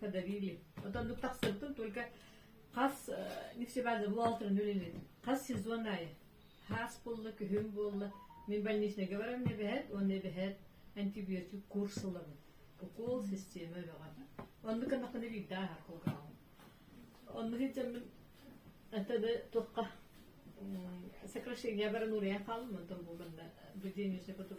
подавили. Вот ордук тахсыбытым только хас нефтебаза буолтарын үлэлин хас сезонная хаас булла күһүн буолла мен больничныйга барам небэһэт он небэһэт антибиотик курс ылабын укол система бөҕө онну канакыны биирдаа хакылгаалым онну хитжаммын атада тухха сокращение баран урыян хаалмын тон булганна буденческая потом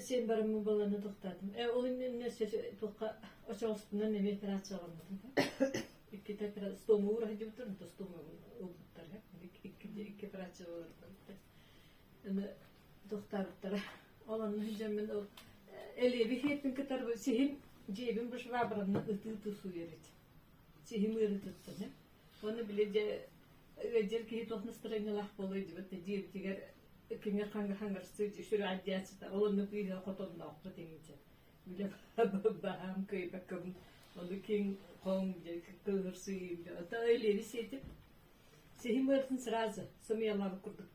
син барыммын буолан утуктаатым ээ ол иннинэ туохха очоҕуспунан эмиэ операцияламмытым иккитэ стома уура сылдьыбыттар онто стома ылбыттар икки операция буолан барбыттар аны утуктаабыттара ол онно сылдьаммын ол элиэби сиэппин кытары сиһим дьиэбин бу швабранан ытыы тусуйар эти сиһим ыары туттан уонна били дьэ ыалдьар киһи туох настроениялаах буолуой дибэт дьиэбитигэр Кине хаҥаһанарсыыт үсүрэҕэрдээччита ол онно кыыһа хотонноохпут иҥчэ билэ баһаам кыйбаккабын ону киң хоҥ дьэ кыыһырсыйыым ото элиэри сиэтип сиһим ыыртын сразу сымыйалаабыт курдук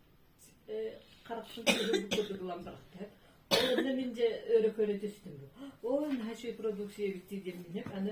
харахпын сыһыыбыт курдук ылан барахтар онно мин дьэ өрө көрө түстүм оо наһаа үчүгэй продукция эбиттии диэн минньик аны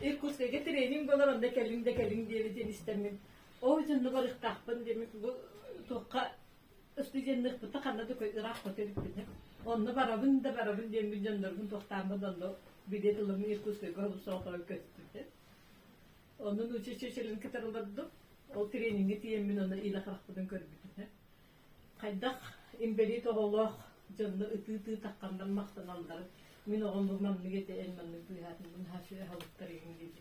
Иркутскайга тренинг болар онда кэлин да кэлин диэбитин истэммин. Ол дьоннугар ырыктаахпын диэмик бу туохха студенныхпыта ханна да ыраах көтөрүппүтэ. Онно барабын да барабын диэммин дьоннорбун туохтааммын онно билет ылым Иркутскайга олусоотоон көстүтэ. Оннун учи чечерин кытар олордум. Ол тренингы тиэммин онно илэ харахпытын көрбүтүнэ. хайдах инбэлиит оҕолоох дьонно ытыы-ытыы тахханнар махтаналлар мин оҕом бу маннык этэ эн маннык быыһаатынбын наһаа үчүгэй аһылыктар игин диэти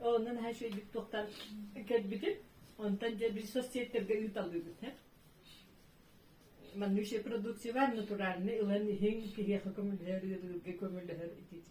онно наһаа үчүгэйдик туохтан кэлбитим онтон дьэ біз соцсеттерге ыыталыыбыт һэ маннык продуктивар натуральный ылан иһиҥ киһиэхэ көмөлөһөр ыарыырга көмөлөһөр итити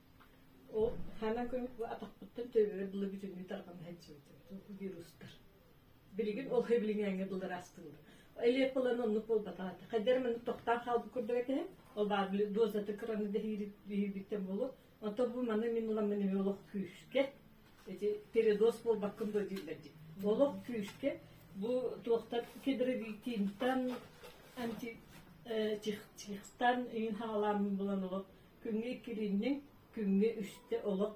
Ол хана күн атахпыттан төбөбөр былы бүтүннүү тарҕана сылдьыбытым вирустар. Билигин ол билиҥээҥҥэ былыр астыыбын. Элиэп ылан оннук буолбатаҕа. Хайдар маны тоқтаан хаалбыт курдук этэ. Ол баар били дозата кыраны дэһиирбиттэн болу. Ото бу маны мин уламын эмиэ олох күүскэ эти передоз буолбаккын да дииллэр дии. Олох күүскэ бу туохтан кедровитинтан анти чихстан үйін хаалаамын булан олох Күҥҥэ иккилиннэ, күҥҥэ үстэ олох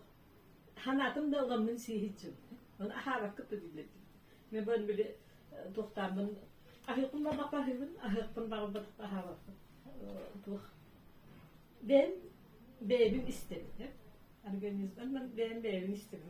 санаатым да ыламмын сииһиччим. Оны аһаабаккыт да дииллэрдим. Мен бу били тохтааммын аһыыкпын барбаппа аһыыбын, аһыыкпын барбатахта аһаабаппын. Туох бэйэм бэйэбин истэбит. Организман бэйэм бэйэбин истэбин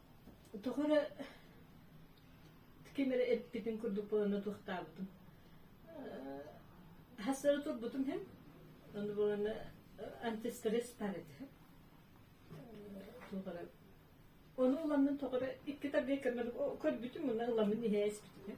Утук эрэ ким эрэ эппитин курдук буолан утуктаабытым. Хас эрэ турбутум иһин ону буолана анти стресс баар этэ. Туох эрэ Ону ыламмын тоҕо эрэ икки тардыйа көрмөдүм, көрбүтүм муна ыламмын иһэ испитим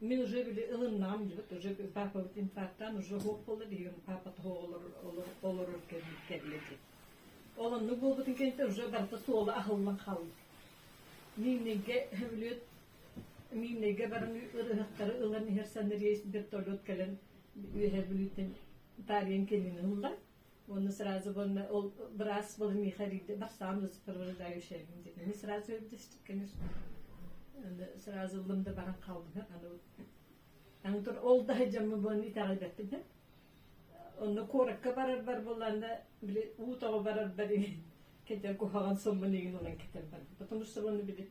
Мин уже били ылыннаҕым дьыбыт уже паапабыт инфарктаан уже оһуох буолла диһигим паапа тоһоҕо олорор кэллэ дии. Ол оннук буолбутун кэнтэ уже барыта суола аһыллан хаалбыт. Мииннэйгэ бүлүөт мииннэйгэ баран ырыһахтары ылан иһэр саныриэс бертолет кэлэн үөһэ бүлүүттэн таарыйан кэлин ылла. Оны сразу буонна ол быраас был михарийде барсаам сопровождающайым дип. Аны сразу өлдөстүк, конечно. Аны сразу лымда баран калдым. Аны Аны тур ол да жамы буон итаҕы беттим. Онно куоракка барар бар болланда били уу тоҕо барар бар кете куһаҕан соммун игин ылан кетер бар. Потому что оны били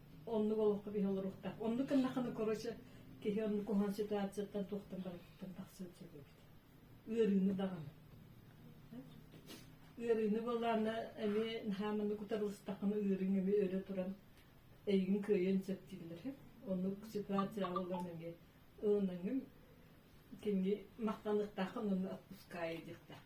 оннук олоххо биһи олоруохтаах оннук гыннахына короче киһи оннук куһан ситуацияттан туохтан барыттан тахсыан сөп эбит ыарыыны даҕаны ыарыыны буоллаана эми хааманы кутарылыстахына ыарыыҥ эми өрө туран эйгин кыайан сөп дииллэр оннук ситуация боллон эми ылынаҥым кимги махтаныктаахын онну отпуская диэхтаах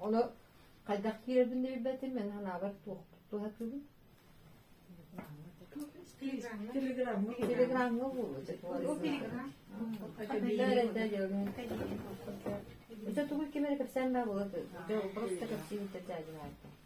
Ону хайдах киирэрбин да билбэтим, эн санаабар туохпут туһатыбын. Телеграмҥа Телеграмҥа буолуо. Ise тугу кимere кэпсээн маа була дьо просто кэпсиибитэ дьаадьаата.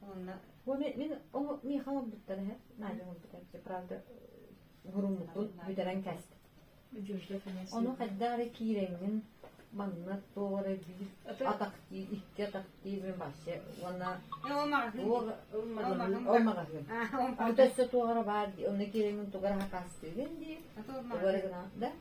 Уонна Бу мин, мин оҥо миэхэ оҥорбуттан эһэ Надя оҥорбута эбитэ, правда буруммутут бүтэрэн кээстэ. Ону хайда эрэ киирэҥҥин манна туох эрэ биир атахтыы, икки атахтыы мин вообще уонна ол магазин. Бу өссө туох эрэ баар дии, онно киирэҥҥин тугара хакаастыыгын дии. Тугара гына да